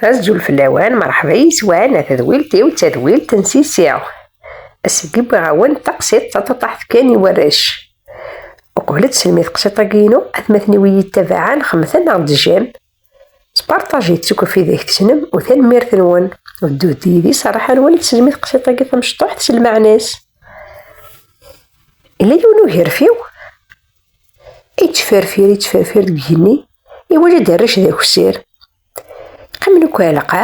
Azul fell-awen, mṛeḥba yes-wen, a tadwilt-iw d tadwilt n Sisi. Ass-agi wwiɣ-awen-d taqsiḍt taṭuṭaḥt kan i warrac. Uqbel ad tesselmi tqsiḍt-agi-inu, atmaten-iw iyi-yettabaɛen xemten neɣ d-jjan. Sparṭaj-itt akk ɣef ideg tessnem u tanemmirt-nwen. Ddut-d yid-i s rraḥa-nwen ad tesselmi tqsiḍt-agi tamecṭuḥt s lmeɛna-s. Yella yiwen ugerfiw yettferfir yettferfir deg igenni, iwaǧa-d arrac d akessir. Ḥemmel kwalaqa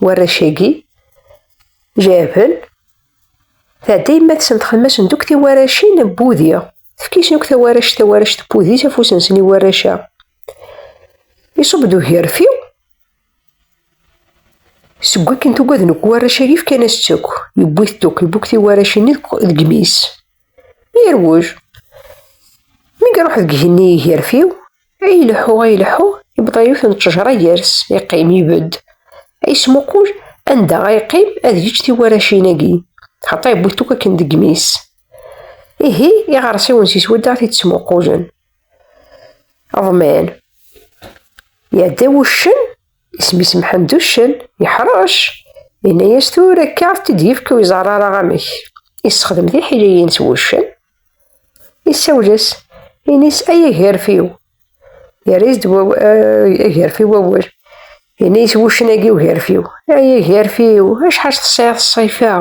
warrac-agi, jabel, tɛedda yemma-tsen txemmem-asen duk tiwaracin n wudi. Tefk-isen akk tawarac tawarac n wudi s afus-nsen i warrac-a. Iṣub-d ugerfi seg wakken tugaden akk warrac-agi fkan-as-tt akk. Yewwi-t akk, yewwi-t tiwaracin deg imi-s. Irwuj. Mi iruḥ deg igenni igerfiw, ay ileḥḥu ay ileḥḥu, yebḍa yiwet n ttejra gar-s, iqqim, ibedd, ay ismuqul anda ay iqqim ad yečč tiwaracin-agi, xaṭer yewwi-t akk akken deg imi-s. Ihi iɣersiwen si swadda t-id-ttmuqulen. Ḍman. Iɛedda wuccen. Isem-is Mḥend Uccen, yeḥṛec. Yenna-yas tura akka ad t-id-yefk ur iẓerr ara amek. Yessexdem tiḥiliyin s wuccen. Isawel-as, ini-s ay agerfiw. Yerra-yas-d eh, agerfiw wawal. Yenna-yas wuccen-agi ugerfiw. Ay agerfiw, acḥal tesɛiḍ ṣṣifa,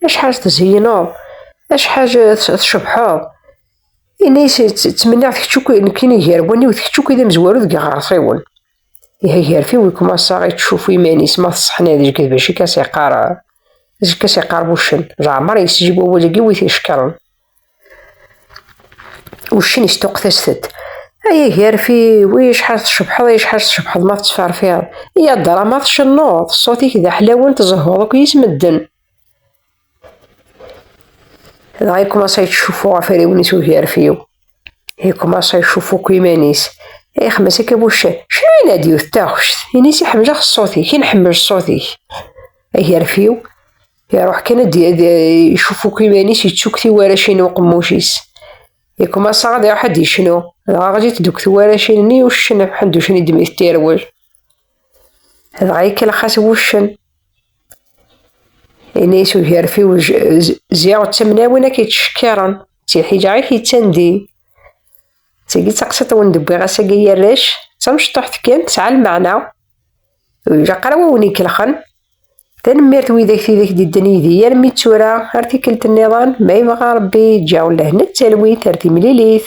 acḥal tezeyneḍ, acḥal tcebḥeḍ. Ini-as ttmenniɣ-t kečč akk nekkini gar waniw d kečč akk d amezwaru deg iɣersiwen. Iha garfi wi kum assaɣ i tcufu iman-is ma teṣeḥna deg d bac i kas iqar deg kas iqar wuccen leɛmer yesjib wawal-agi wi t-icekkren wuccen istuqet-as-t-ed ay agarfi wi acḥal tcebḥeḍ ay acḥal tcebḥeḍ ma tettferfiḍ i adra ma tcennuḍ ṣṣut-ik d aḥlawen tezehhuḍ akk yis medden dɣa ikumaṣa yettcuffu ɣef rriwen-is ugerfiw ikumaṣa icuffu akk iman-is ixemmes akka buccan cnu i nadi d taɣect ini-s iḥemmleɣ ṣṣut-ik i nḥemmel ṣṣut-ik agerfiw iruḥ kan ad icuffu akk iman-is yettukk tiwaracin n uqemmuc-is ikumaṣa ad iruḥ ad icnu dɣa ɣlit deg tiwaracin-nni uccen ḥenducen i d-mit tirwel dɣa ikellex-as wuccen Ini-as ugerfiw ziɣ d tamnawin ak yettcekkiren, d tiḥila i k-yettandin. D tagi d taqsiṭ wen d-wwiɣ ass-agi ay arrac, d tamecṭuḥt kan tesɛa lmeɛna, ur ilaq ara wa wen-ikelxen. Tanemmirt i widak tidak d-idden yid-i armi d tura, ar tikkelt nniḍen, ma yebɣa Rebbi, ǧǧiɣ ula-hen d talwit ar timlilit.